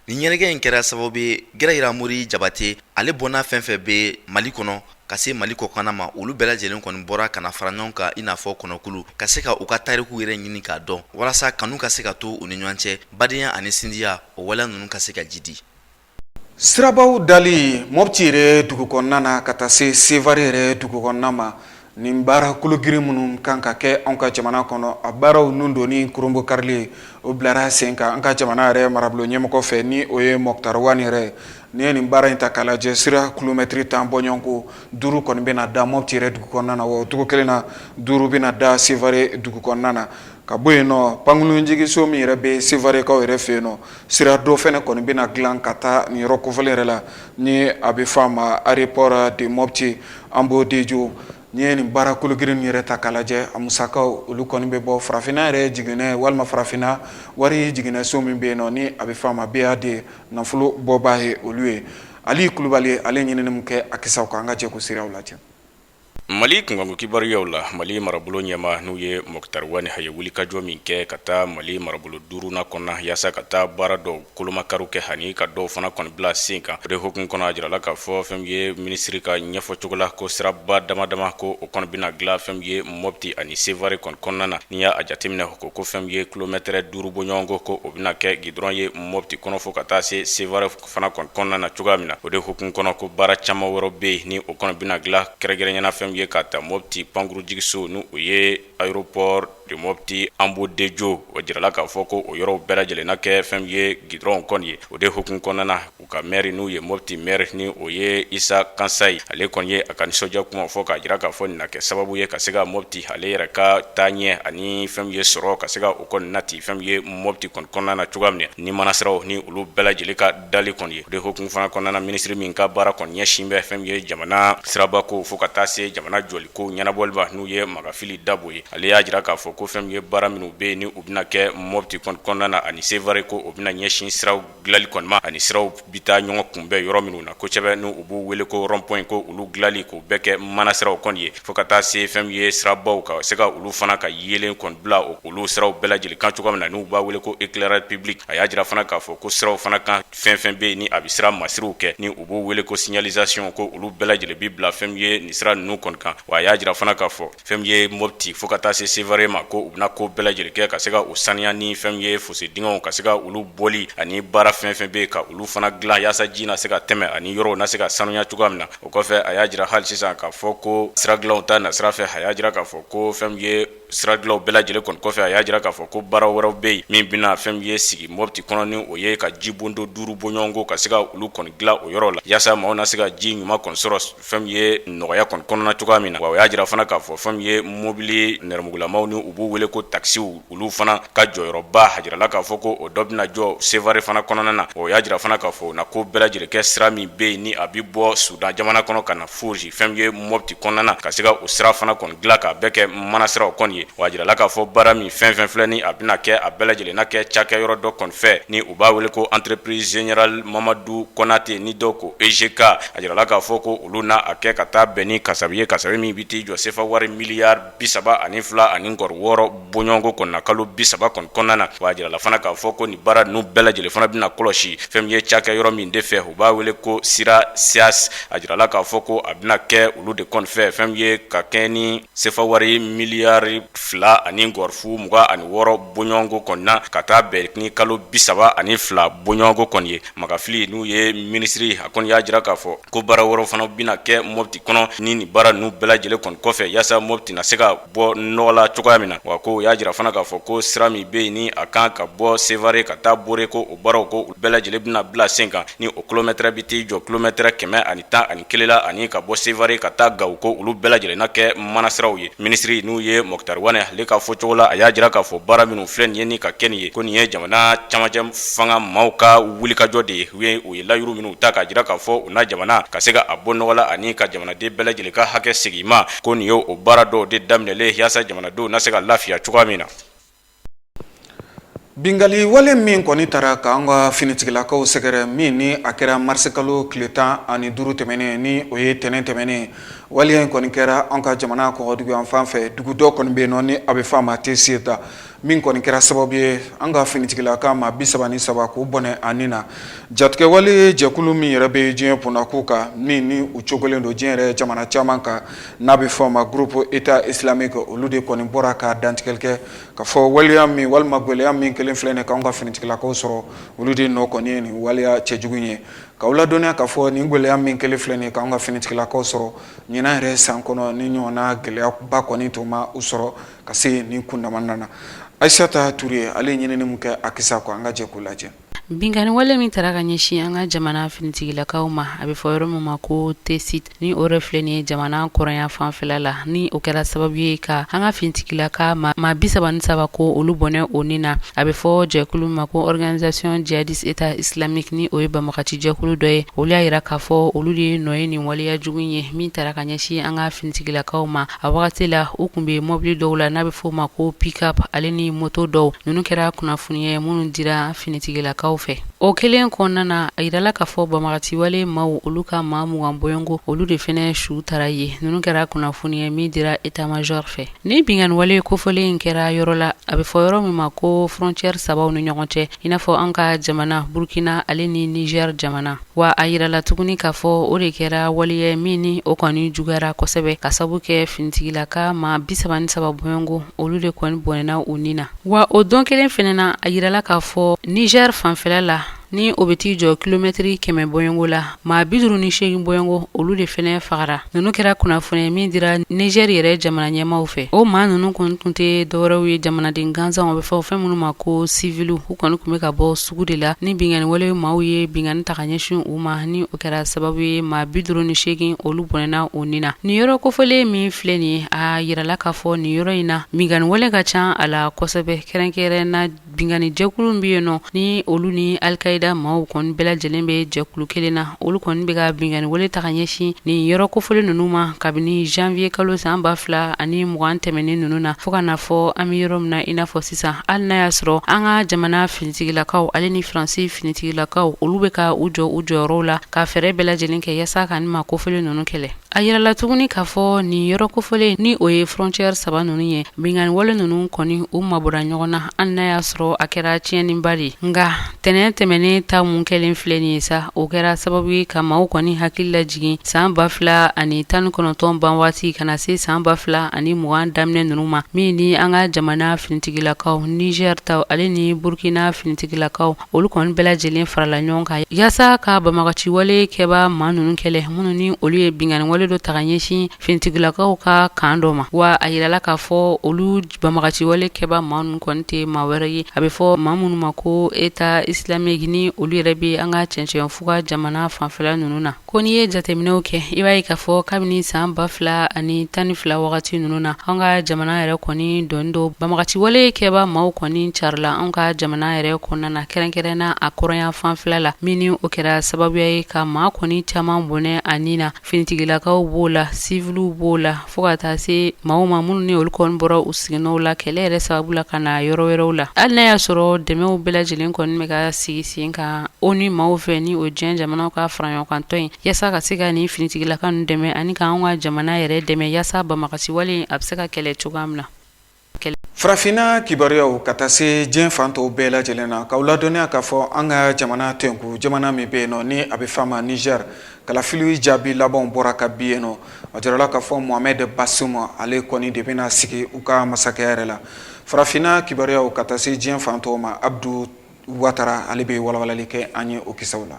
nin ɲɛnajɛ in kɛra sababu ye gɛrɛ yira mori jabate ale bɔnna fɛn fɛn bɛ mali kɔnɔ ka se mali kɔkan ma olu bɛɛ lajɛlen kɔni bɔra ka na fara ɲɔgɔn kan i n'a fɔ kɔni k'olu ka se ka u ka tariku yɛrɛ ɲini k'a dɔn walasa kanu ka se ka to u ni ɲɔgɔn cɛ badenya ani sinjiya o waleya ninnu ka se ka jidi sirabaw dali mɔti yɛrɛ dugu kɔnɔna na ka taa se sevare yɛrɛ dugu kɔnɔna ma nin baara kologirin minnu kan ka kɛ an ka jamana kɔnɔ a baaraw ninnu don ni kurunbonkarili o bilara sen kan an ka jamana yɛrɛ marabolo ɲɛmɔgɔ fɛ ni o ye moktar wani yɛrɛ n'i ye nin baara in ta k'a lajɛ sira kilomɛtiri tan bɔɲɔgɔnko duuru kɔni bɛna na da mɔti yɛrɛ dugu kɔnɔna na o cogo kelen na duuru bɛna da sevare dugu kɔnɔna na ka bɔ yen nɔ pankurunjigiso min yɛrɛ bɛ sevarekaw yɛrɛ fɛ yen nɔ Sira dɔ fana kɔni bɛna dilan ka taa nin yɔrɔ kofɔlen yɛrɛ la ni a bɛ fɔ a ma aéroport de mɔti ambodejo n'i ye nin baara kologirin yɛrɛ ta k'a lajɛ a musakaw olu kɔni bɛ bɔ farafinna yɛrɛ jiginɛ walima farafinna wari jiginɛ so min bɛ yen nɔ ni a bɛ fɔ a ma BAD nafolo bɔbaa ye olu ye ali kulubali ale ɲinini min kɛ a kisaw kan an ka jɛ k'o sira lajɛ Mali kunkanko kibaruyaw la mali marabolo ɲɛmaa n'o ye moktar wani a ye wulikajɔ min kɛ ka taa mali marabolo duurunan kɔnɔ yaasa ka taa baara dɔw kolomakari kɛ ani ka dɔw fana kɔni bila sen kan o de hukumu kɔnɔ a jirala k'a fɔ fɛn min ye minisiri ka ɲɛfɔ cogo la ko siraba dama dama ko o kɔni bɛna dilan fɛn min ye mɔti ani sevare kɔni kɔnɔna na n'i y'a jateminɛ ko ko fɛn min ye kilomɛtɛrɛ duuru bɔɲɔgɔnko ko o bɛna kɛ gidɔrɔn ye mɔti kɔnɔ fo ka taa se sevare fana kɔni kɔnɔna na cogoya min na o de hukumu kɔnɔ ko baara caman wɛrɛ bɛ yen ni o kɔni bɛna dilan kɛrɛnkɛrɛnnenya la fɛn min ye ka ta mɔti pankurunjigiso n'o ye aéroport de mɔti ambodejo o jirala k'a fɔ ko o yɔrɔw bɛɛ lajɛlen na kɛ fɛn min ye gidɔrɔnw kɔni ye o de hukumu kɔnɔna na u ka mɛri n'o ye mɔti mɛri ni o ye isa kansayi ale kɔni ye a ka nisɔndiya kuma fɔ k'a jira k'a fɔ nin na kɛ sababu ye ka se ka mɔti ale yɛrɛ ka taaɲɛ ani fɛn min ye sɔrɔ ka se ka o kɔni nati fɛn ye mɔti kɔni kɔnɔna na cogoya min na ni manasiraw ni olu bɛɛ lajɛlen ka dali kɔni ye o de hukumu fana kɔnɔna na minisiri min ka baara kɔni ɲɛsin bɛ fɛn min ye jamana sirabako fo ka taa se jamana jɔliko ɲɛnabɔli ma n'o ye makan fili dabo ye ale y'a jira k'a fɔ ko fɛn min ye baara minnu bɛ yen ni u bɛna kɛ mɔti kɔnɔna na ani sevare ko o bɛna ɲɛsin siraw dilanli kɔni ma ani siraw bɛ taa ɲɔgɔn kunbɛn yɔrɔ minnu na kosɛbɛ ni u b'u wele ko rond-point ko olu dilanli k'u bɛɛ kɛ manasiraw kɔni ye fo ka taa se fɛn min ye sirabaw ka se ka olu fana ka yeelen kɔni bila olu siraw bɛɛ lajɛlen kan cogoya min na n'u b'a wele ko éclairage public a y'a jira fana k'a fɔ ko siraw fana kan fɛn fɛn bɛ yen ni a bɛ sira masiriw kɛ ni u b'u wele ko signalisation ko olu bɛɛ lajɛlen bɛ bila fɛn min ye nin sira ninnu kɔni kan wa a y'a jira fana k'a fɔ fɛn min ye Mopti fo ka taa se Sevare ma ko u bɛna ko bɛɛ lajɛlen kɛ ka se ka u saniya ni fɛn min ye fose dingɛw ka se ka olu bɔli ani baara fɛn fɛn bɛ yen ka olu fana dilan yaasa ji na se ka tɛmɛ ani yɔrɔw na se ka sanuya cogoya min na o kɔfɛ a y'a jira hali sisan k'a fɔ ko sira dilanw ta nasira fɛ a y'a jira k'a fɔ ko fɛn min ye sira dilanw bɛɛ lajɛlen kɔni kɔfɛ a y'a jira k'a fɔ ko baara wɛrɛw bɛ yen min bɛna fɛn min ye sigi Mopti kɔnɔ ni o ye ka jibondo duuru bɔɲɔgɔnko ka se ka olu kɔni dilan o yɔrɔ la yaasa maaw na se ka ji ɲuman kɔni sɔrɔ fɛn min ye nɔgɔya kɔni kɔnɔna cogoya min na wa o y'a jira fana k'a fɔ fɛn min ye mobili nɛrɛmugulamaw ni u b'u wele ko takisiw olu fana ka jɔyɔrɔba a jirala k'a fɔ ko o dɔ bɛna jɔ Sevare fana kɔnɔna na o y'a jira fana k'a fɔ u na ko bɛɛ lajɛlen kɛ sira min bɛ yen ni a bɛ bɔ Sudan jamana kɔnɔ ka na fosi fɛn min ye Mopti kɔnɔna na ka se ka o sira fana kɔni dilan k'a bɛɛ kɛ manasiraw kɔni ye wa a jirala k'a fɔ baara min fɛn fɛn filɛ ni a bɛna kɛ a bɛɛ lajɛlen na kɛ cakɛyɔrɔ dɔ kɔni fɛ ni u b'a wele ko entreprise générale Mamadu Konate ni dɔw ko EGK a jirala k'a fɔ ko olu na a kɛ ka taa bɛn ni kasabi ye kasabi min bɛ t'i jɔ sefa wari miliyari bi saba ani fila ani nkɔri wɔɔrɔ bɔɲɔgɔnko kɔni na kalo bi saba kɔni kɔnɔna na wa a jirala fana k'a fɔ ko nin baara ninnu bɛɛ lajɛlen fana bɛna kɔlɔsi fɛn min ye cakɛyɔrɔ min de fɛ u b'a wele ko CIRA SAS a jirala k'a fɔ ko a bɛna kɛ olu de kɔni fɛ fɛn min ye ka kɛ ni sefa wari miliyari fila ani nkɔri fu mugan ani wɔɔrɔ bɔɲɔgɔnko kɔni na ka taa bɛn ni kalo bi saba ani fila bɔɲɔgɔnko kɔni ye Makan Fili n'o ye minisiri a kɔni y'a jira k'a fɔ ko baara wɛrɛ fana bɛna kɛ Mopti kɔnɔ ni nin baara ninnu bɛɛ lajɛlen kɔni kɔfɛ yaasa Mopti na se ka bɔ nɔgɔ la cogoya min na wa ko u y'a jira fana k'a fɔ ko sira min bɛ yen ni a kan ka bɔ Sevare ka taa Bore ko o baaraw ko bɛɛ lajɛlen bɛna bila sen kan ni o kilomɛtɛrɛ bɛ t'i jɔ kilomɛtɛrɛ kɛmɛ ani tan ani kelen la ani ka bɔ Sevare ka taa Gawo ko olu bɛɛ lajɛlen na kɛ manasiraw ye minisiri n'o ye Moctar Ouane ale ka fɔcogo la a y'a jira k'a fɔ baara minnu filɛ nin ye ni ka kɛ nin ye ko nin ye jamana camancɛ fanga maaw ka wulikajɔ de ye u ye u ye layuru minnu ta k'a jira k'a fɔ u na jamana ka se ka a bɔ nɔgɔ la ani ka jamanaden bɛɛ lajɛlen ka hakɛ segin ma ko nin ye o baara dɔw de daminɛlen yaasa jamanadenw na se ka lafiya cogoya min na Binkali wale min kɔni taara k'an ka finitigilakaw sɛgɛrɛ min ni a kɛra marisikalo tile tan ani duuru tɛmɛnen ni o ye tɛnɛn tɛmɛnen wale in kɔni kɛra an ka jamana kɔgɔdugu yanfan fɛ dugu dɔ kɔni bɛ nɔ ni a bɛ fɔ a ma Tessit min kɔni kɛra sababu ye an ka finitigilaka maa bi saba ni saba k'u bɔnɛ a ni na jatigɛwale jɛkulu min yɛrɛ bɛ diɲɛ kun n'a ku kan min ni u cogolen don diɲɛ yɛrɛ jamana caman kan n'a bɛ fɔ a ma groupe Etat islamique olu de kɔni bɔra ka dantigɛli kɛ k'a fɔ waleya min walima gɛlɛya min kɛlen filɛ nin k'anw ka finitigilakaw sɔrɔ olu de nɔ kɔni ye nin waleya cɛjugu in ye k'aw ladɔnniya k'a fɔ nin gɛlɛya min kɛlen filɛ nin k'anw ka finitigilakaw sɔrɔ ɲinan yɛrɛ san kɔnɔ nin ɲɔgɔnna gɛlɛyaba kɔni tun ma u sɔrɔ ka se nin kundama na Ayisata Ture ale ye ɲinini min kɛ a kisa kan an ka jɛ k'o lajɛ. Binkanni wale min taara ka ɲɛsin an ka jamana finitigilakaw ma a bɛ fɔ yɔrɔ min ma ko Tessit ni o yɛrɛ filɛ nin ye jamana kɔrɔnyanfan fɛla la ni o kɛra sababu ye ka an ka finitigilaka maa bi saba ni saba ko olu bɔnɛ u ni na a bɛ fɔ jɛkulu min ma ko organisation djihadiste Etat islamique ni o ye banbaganci jɛkulu dɔ ye olu y'a jira k'a fɔ olu de ye nɔ ye nin waleya jugu ye min taara ka ɲɛsin an ka finitigilakaw ma a wagati la u tun bɛ mɔbili dɔw la n'a bɛ f'o ma ko pick-up ale ni mɔto dɔw ninnu kɛra kunnafoni ye minnu dira finitigilakaw fɛ o kelen kɔnɔna na a jirala k'a fɔ banbaganci wale maaw olu ka maa mugan bɔɲɔnko olu de fana su tara ye ninnu kɛra kunnafoni ye min dira état-major fɛ ni binkanni wale kofɔlen in kɛra yɔrɔ la a bɛ fɔ yɔrɔ min ma ko frontière sabaw ni ɲɔgɔn cɛ i n'a fɔ an ka jamana burukina ale ni Niger jamana wa a jirala tuguni k'a fɔ o de kɛra waleya min ni o kɔni juguyara kosɛbɛ ka sabu kɛ finitigilaka maa bi saba ni saba bɔɲɔnko olu de kɔni bɔnɛna u ni na wa o don kelen fana na a jirala k'a fɔ Niger fanfɛla la ni o bɛ t'i jɔ kilomɛtiri kɛmɛ bɔɲɔnko la maa bi duuru ni seegin bɔɲɔnko olu de fana fagara ninnu kɛra kunnafoni min dira Niger yɛrɛ jamana ɲɛmaaw fɛ o maa ninnu kɔni tun tɛ dɔwɛrɛw ye jamanaden gansanw bɛ fɔ fɛn minnu ma ko siviliw u kɔni tun bɛ ka bɔ sugu de la ni binkanni wale maaw ye binkanni ta ka ɲɛsin u ma ni o kɛra sababu ye maa bi duuru ni seegin olu bɔnɛna u ni na nin yɔrɔ kofɔlen min filɛ nin ye a jirala k'a fɔ nin yɔrɔ in na binkanni wale ka ca a la kosɛbɛ kɛrɛnkɛrɛn na binkannijɛkulu bɛ yen nɔ ni olu ni alikayida maaw kɔni bɛɛ lajɛlen bɛ jɛkulu kelen na olu kɔni bɛ ka binkanni wale ta ka ɲɛsin nin yɔrɔ kofɔlen ninnu ma kabini janvier kalo san ba fila ani mugan tɛmɛnen ninnu na fo ka na fɔ an bɛ yɔrɔ min na i n'a fɔ sisan hali n'a y'a sɔrɔ an ka jamana finitigilakaw ale ni faransi finitigilakaw olu bɛ ka u jɔ u jɔyɔrɔw la ka fɛɛrɛ bɛɛ lajɛlen kɛ yaasa ka nin maa kofɔlen ninnu kɛlɛ A jirala tuguni k'a fɔ nin yɔrɔ kofɔlen ni o ye frontière saba ninnu ye binkanni wale ninnu kɔni u mabɔra ɲɔgɔn na hali n'a y'a sɔrɔ a kɛra tiɲɛniba de nka ntɛnɛn tɛmɛnen ta min kɛlen filɛ nin ye sa o kɛra sababu ye ka maaw kɔni hakili lajigin san ba fila ani tan kɔnɔntɔn ban waati ka na se san ba fila ani mugan daminɛ ninnu ma min ni an ka jamana finitigilakaw Niger taw ale ni burukina finitigilakaw olu kɔni bɛɛ lajɛlen farala ɲɔgɔn kan yaasa ka banbaganci wale kɛbaa maa ninnu kɛlɛ minnu ni olu ye binkanni wale dɔ ta ka ɲɛsin finitigilakaw ka kan dɔ ma wa a jirala k'a fɔ olu banbaganci wale kɛbaa maa ninnu kɔni tɛ maa wɛrɛ ye a bɛ fɔ maa minnu ma ko Etat islamique ni olu yɛrɛ bɛ an ka cɛncɛnfuga jamana fanfɛla ninnu na Ko n'i ye jateminɛw kɛ i b'a ye k'a fɔ kabini san ba fila ani tan ni fila wagati ninnu na an ka jamana yɛrɛ kɔni dɔɔni dɔɔni banbagaci wale kɛba maaw kɔni carila an ka jamana yɛrɛ kɔnɔna na kɛrɛnkɛrɛn na a kɔrɔnya fanfɛ la min ni o kɛra sababuya ye ka maa kɔni caman bɔnɛ a ni na finitigilakaw b'o la siwiliw b'o la fo ka taa se maaw ma minnu ni olu kɔni bɔra u siginɔw la kɛlɛ yɛrɛ sababu la ka na yɔrɔ wɛrɛw la hali n'a y'a sɔrɔ dɛmɛw bɛɛ lajɛlen kɔni bɛ ka sigi sen kan o ni maaw fɛ ni o diɲɛ jamanaw ka faraɲɔgɔnkantɔn ye yaasa ka se ka nin finitigilaka ninnu dɛmɛ ani k'an ka jamana yɛrɛ dɛmɛ yaasa banbagaci wale a bɛ se ka kɛlɛ cogoya min na Farafinna kibaruyaw ka taa se diɲɛ fan tɔw bɛɛ lajɛlen na k'aw ladɔnniya k'a fɔ an ka jamana tɛnku jamana min bɛ yen nɔ ni a bɛ f'a ma Niger kalafili jaabi labanw bɔra ka bin yen nɔ a jirala k'a fɔ Mohamed Bazoum ale kɔni de bɛna sigi u ka masakɛya yɛrɛ la farafinna kibaruyaw ka taa se diɲɛ fan tɔw ma Abdou Ouattara ale bɛ walawalali kɛ an ye o kisɛw la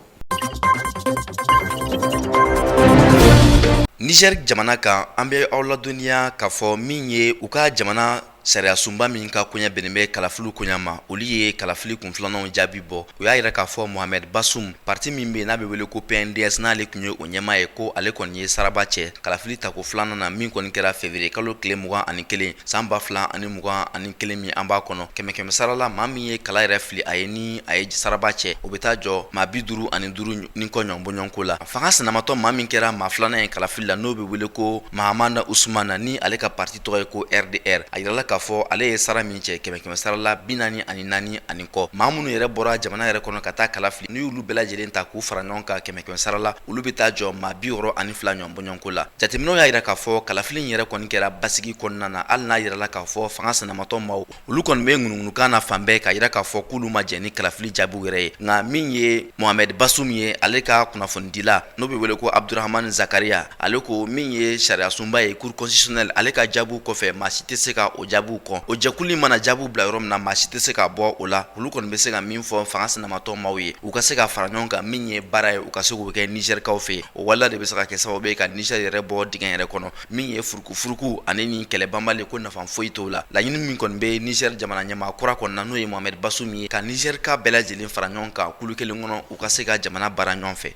Niger jamana kan an bɛ aw ladɔnniya k'a fɔ min ye u ka jamana sariyasunba min ka koɲɛ bɛnnen bɛ kalafili koɲɛ ma, olu ye kalafili kun filananw jaabi bɔ. U y'a yira k'a fɔ Mohamed Bazoum, parti min bɛ yen n'a bɛ wele ko PNDS n'ale tun ye o ɲɛmaa ye, ko ale kɔni ye saraba cɛ kalafili tako filanan na min kɔni kɛra février kalo tile mugan ani kelen san ba fila ani mugan ani kelen min an b'a kɔnɔ. Kɛmɛ kɛmɛ sara la, maa min ye kala yɛrɛ fili a ye ni a ye saraba cɛ o bɛ taa jɔ maa bi duuru ani duuru ni kɔ ɲɔgɔnbɔɲɔgɔnko la fanga sinamatɔn maa min kɛra maa filanan ye kalafili la n'o bɛ wele ko Mahamane Ousmane ni ale ka parti tɔgɔ ye ko RDR a yirala k'a fɔ ale ye sara min cɛ kɛmɛ kɛmɛ sara la bi naani ani naani ani kɔ maa minnu yɛrɛ bɔra jamana yɛrɛ kɔnɔ ka taa kala fili n'i y'olu bɛɛ lajɛlen ta k'u fara ɲɔgɔn kan kɛmɛ kɛmɛ sara la olu bɛ taa jɔ maa bi wɔɔrɔ ani fila ɲɔgɔnbɔɲɔgɔnko la jateminɛw y'a yira k'a fɔ kalafili yɛrɛ kɔni kɛra basigi kɔnɔna na hali n'a yirala k'a fɔ fanga sinamatɔn maaw olu kɔni bɛ ŋunuŋunukan na fan bɛɛ k'a yira k'a fɔ k'olu ma jɛn ni kalafili jaabiw yɛrɛ ye nka min ye Mohamed Bazoum ye ale ka kunnafonidila n'o bɛ wele ko abuduramani zakaria ale ko min ye sariyasunba ye cour constitutionnelle ale ka jaabiw kɔfɛ maa si tɛ se ka o jaabiw kɔ o jɛkulu mana jaabiw bila yɔrɔ min na maa si tɛ se ka bɔ o la olu kɔni bɛ se ka min fɔ fanga sinamatɔn maaw ye u ka se ka fara ɲɔgɔn kan min ye baara ye u ka se k'o kɛ nizɛrikaw fɛ o wale de bɛ se ka kɛ sababu ye ka nizɛri yɛrɛ bɔ dingɛ yɛrɛ kɔnɔ min ye furukufuruku ani ni kɛlɛbanbali ko nafa foyi t'o la laɲini min kɔni bɛ nizɛri jamana ɲɛmaa kura kɔnɔ na n'o ye Mohamed Bazoum ye ka nizɛrika bɛɛ lajɛlen fara ɲɔgɔn kan kulu kelen kɔnɔ u ka se ka jamana baara ɲɔgɔn fɛ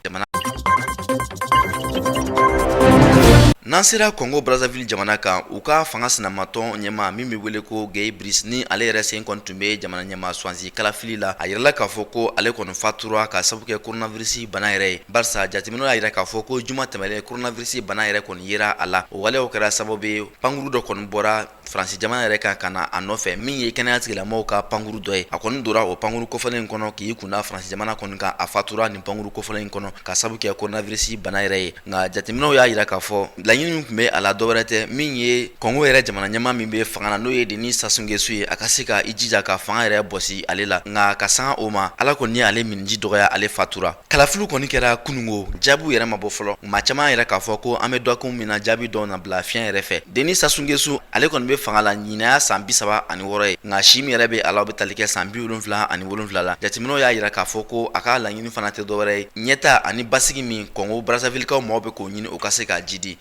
jamana N'an sera Congo Brazzaville jamana kan, u ka fanga sinamatɔn ɲɛmaa min bɛ wele ko Guy Brice ni ale yɛrɛ sen kɔni tun bɛ jamana ɲɛmaa suwansi kalafili la, a yirala k'a fɔ ko ale kɔni fatura ka sabu kɛ coronavirus bana yɛrɛ ye. Barisa jateminɛw y'a yira k'a fɔ ko juma tɛmɛnlen coronavirus bana yɛrɛ kɔni yera a la o waleyaw kɛra sababu ye pankurun dɔ kɔni bɔra faransi jamana yɛrɛ kan ka na a nɔfɛ min ye kɛnɛya tigilamaaw ka pankurun dɔ ye a kɔni dora o pankurun kofɔlen in kɔnɔ k'i kun da faransi jamana kɔni kan a fatura nin pankurun kofɔlen in kɔnɔ k'a sabu kɛ coronavirus bana yɛrɛ ye nka jateminɛw y'a yira k'a fɔ laɲini min tun bɛ a la dɔwɛrɛ tɛ min ye kɔngo yɛrɛ jamana ɲɛmaa min bɛ fanga la n'o ye denis sassou nguesso ye a ka se ka i jija ka fanga yɛrɛ bɔsi ale la nka ka sanga o ma ala kɔni ye ale minniji dɔgɔya ale fatura Kalafili kɔni kɛra kunungo jaabiw yɛrɛ ma bɔ fɔlɔ maa caman y'a yira k'a fɔ ko an bɛ dakun min na jaabi dɔw na bila fiɲɛ yɛrɛ fɛ denis sassou nguesso ale kɔni bɛ fanga la ɲinan y'a san bi saba ani wɔɔrɔ ye nka si min yɛrɛ bɛ a la o bɛ tali kɛ san bi wolonwula ani wolonwula la jateminɛw y'a yira k'a fɔ ko a ka laɲini fana tɛ dɔwɛrɛ ye ɲɛtaa ani basigi min kɔngo brazzavillekaw mɔgɔw bɛ k'o ɲini o ka se k'a jidi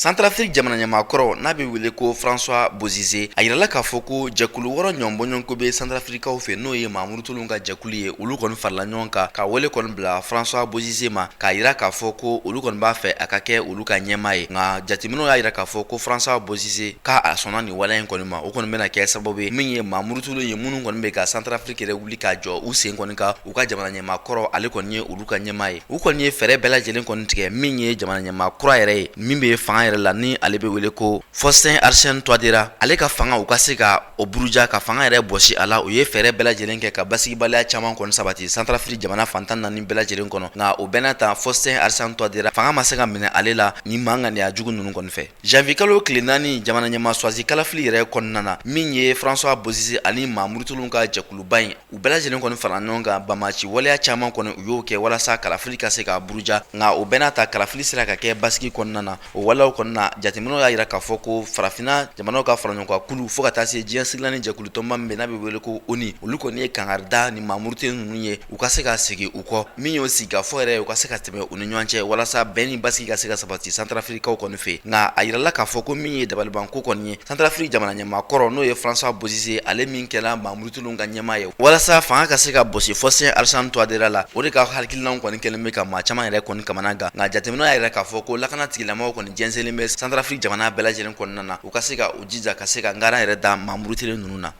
santarafiri jamanaɲɛmaakɔrɔ n'a bɛ wele ko francois bozize a yirala k'a fɔ ko jɛkulu wɔɔrɔ ɲɔgɔnbɔɲɔgɔnko bɛ santarafirikaw fɛ n'o ye maa murutilenw ka jɛkulu ye olu kɔni farila ɲɔgɔn kan ka wele kɔni bila francois bozize ma k'a yira k'a fɔ ko olu kɔni b'a fɛ a ka kɛ olu ka ɲɛmaa ye nka jateminɛw y'a yira k'a fɔ ko francois bozize ko a sɔnna nin waleya in kɔni ma o kɔni bɛna kɛ sababu ye min ye maa murutilenw ye minnu kɔni bɛ ka santarafiri yɛrɛ wuli k'a jɔ u sen kɔni kan u ka jamana ɲɛmaa kɔrɔ ale kɔni ye olu ka ɲɛmaa ye u kɔni ye fɛɛrɛ bɛɛ lajɛlen kɔni tigɛ min ye jamana ɲɛmaa kura yɛrɛ ye min bɛ fanga yɛrɛ la ni ale bɛ wele ko faustin archange touadera ale ka fanga u ka se ka o buruja ka fanga yɛrɛ bɔsi a la u ye fɛɛrɛ bɛɛ lajɛlen kɛ ka basigibaliya caman kɔni sabati santarafiri jamana fan tan naani bɛɛ lajɛlen kɔnɔ nka o bɛɛ n'a ta faustin archange touadera fanga ma se ka minɛ ale la nin maa ŋaniya jugu ninnu kɔni fɛ Janvier kalo tile naani jamana ɲɛmaa choisi kalafili yɛrɛ kɔnɔna na min ye francois bozize ani maa murutilenw ka jɛkuluba in u bɛɛ lajɛlen kɔni fara ɲɔgɔn kan banbaanci waleya caman kɔni u y'o kɛ walasa kalafili ka se ka buruja nka o bɛɛ n'a ta kalafili sera ka kɛ basigi kɔnɔna na o waleyaw kɔnɔna na jateminɛw y'a yira k'a fɔ ko farafinna jamanaw ka faraɲɔgɔnkan kulu fo ka taa se diɲɛ seleke naani jɛkulu tɔnba min bɛ n'a bɛ wele ko onu olu kɔni ye kankari da ni maa murutilen ninnu ye u ka se ka segin u kɔ min y'o sigikafɔ yɛrɛ u ka se ka tɛmɛ u ni ɲɔgɔn cɛ walasa bɛn ni basigi ka se ka sabati santarafirikaw kɔni fɛ nka a yirala k'a fɔ ko min ye dabaliban ko kɔni ye santarafiri jamana ɲɛmaa kɔrɔ n'o ye francois bozize ale min kɛra maa murutilenw ka ɲɛmaa ye walasa fanga ka se ka bɔsi faustin archange touadera la o de ka hakilinaw kɔni kɛlen bɛ ka maa caman yɛrɛ kɔni kamana gan nka jateminɛw y'a yira k'a fɔ ko lakana tigilamaaw kɔni jɛsɛnlen bɛ santarafiri jamana bɛɛ lajɛlen kɔnɔna na u ka se ka u jija ka se ka ngaran yɛrɛ da maa murutilen ninnu na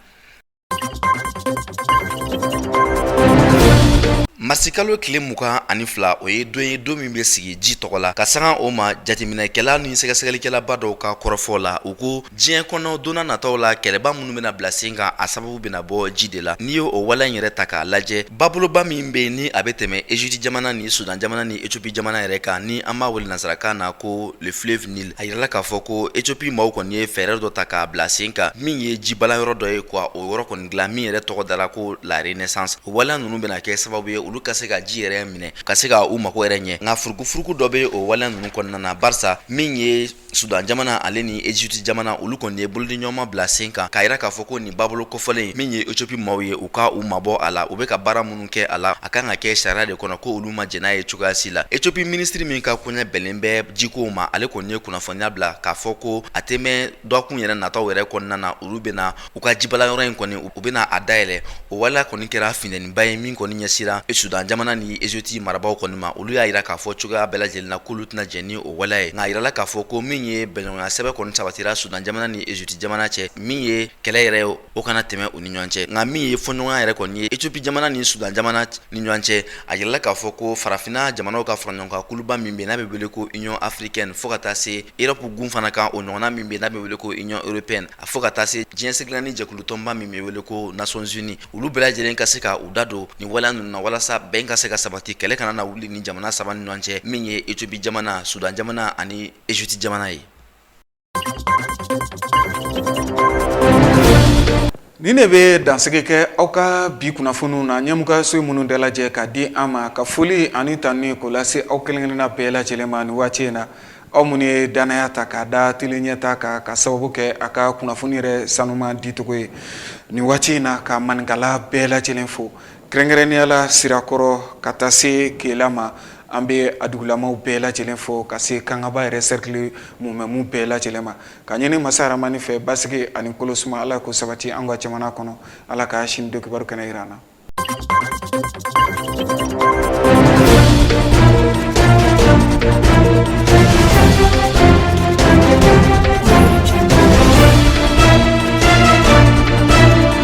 marisikalo tile mugan ani fila o ye don ye don min bɛ sigi ji tɔgɔ la ka sanga o ma jateminɛkɛla ni sɛgɛsɛgɛlikɛlaba dɔw ka kɔrɔfɔ la u ko diɲɛ kɔnɔ donna nataw la kɛlɛba minnu bɛna bila sen kan a sababu bɛna bɔ ji de la n'i y'o waleya in yɛrɛ ta k'a lajɛ baboloba min bɛ ni a bɛ tɛmɛ eziputi jamana ni sudan jamana ni ecopi jamana yɛrɛ kan ni an b'a wele nasarakan na ko le fleuve Nil a yirala k'a fɔ ko Ethiopie maaw kɔni ye fɛɛrɛ dɔ ta k'a bila sen kan min ye jibalan yɔrɔ dɔ ye quoi o yɔrɔ kɔni dilan min yɛrɛ tɔgɔ dara ko la Renaissance o waleya ninnu bɛna kɛ sababu ye olu ka se ka ji yɛrɛ minɛ ka se ka u mago yɛrɛ ɲɛ nka furukufuruku dɔ bɛ o waleya ninnu kɔnɔna na barisa min ye Sudan jamana ale ni Egypte jamana olu kɔni ye bolodiɲɔgɔnma bila sen kan k'a yira k'a fɔ ko nin babolo kofɔlen min ye Ethiopie maaw ye u ka u mabɔ a la u bɛ ka baara minnu kɛ a la a kan ka kɛ sariya de kɔnɔ ko olu ma jɛn n'a ye cogoya si la Ethiopie ministre min ka koɲɛ bɛnnen bɛ jikow ma ale kɔni ye kunnafoniya bila k'a fɔ ko a tɛ mɛn dɔgɔkun yɛrɛ nataw yɛrɛ kɔnɔna na olu bɛna u ka jibalan yɔrɔ in kɔni u bɛna a dayɛlɛ o waleya kɔni kɛra finɛniba ye min kɔni ɲɛsira Sudan jamana ni Egypte marabaaw kɔni ma olu y'a yira k'a fɔ cogoya bɛɛ lajɛlen na k'olu tɛna jɛn ni o waleya ye nka a yirala k'a fɔ ko min ye bɛnɲɔgɔnya sɛbɛn kɔni sabatira Sudan jamana ni Egypte jamana cɛ min ye kɛlɛ yɛrɛ ye o kana tɛmɛ u ni ɲɔgɔn cɛ nka min ye fɔɲɔgɔnya yɛrɛ kɔni ye Ethiopie jamana ni Soudan jamana ni ɲɔgɔn cɛ a yirala k'a fɔ ko farafinna jamanaw ka faraɲɔgɔnkan kuluba min bɛ n'a bɛ wele ko Union africaine fo ka taa se Europe gun fana kan o ɲɔgɔnna min bɛ n'a bɛ wele ko Union européenne a fo ka taa se diɲɛ seleke naani jɛkulu tɔnba min bɛ wele ko Nations unies olu bɛɛ lajɛlen ka se ka u da don nin waleya ninnu na walasa bɛn ka se ka sabati kɛlɛ kana na wuli nin jamana saba ni ɲɔgɔn cɛ min ye Ethiopie jamana Soudan jamana ani Egypte jamana ye Nin ne bɛ dansigi kɛ aw ka bi kunnafoniw na ɲɛmɔgɔso ye minnu dalajɛ ka di an ma ka foli ani tanuni k'o lase aw kelenkelenna bɛɛ lajɛlen ma nin waati in na aw minnu ye dannaya ta k'a da tele Ɲɛta kan k'a sababu kɛ a ka kunnafoni yɛrɛ sanuma dicogo ye nin waati in na ka maninkala bɛɛ lajɛlen fo Kɛrɛnkɛrɛnnenya la sirakɔrɔ ka taa se kela ma an bɛ a dugulamaw bɛɛ lajɛlen fo ka se kangaba yɛrɛ cercle mumɛ bɛɛ lajɛlen ma k'a ɲini masa rahamani fɛ basigi ani kolosuma ala k'o sabati an ka jamana kɔnɔ ala ka sini don kibaru kɛnɛ yira an na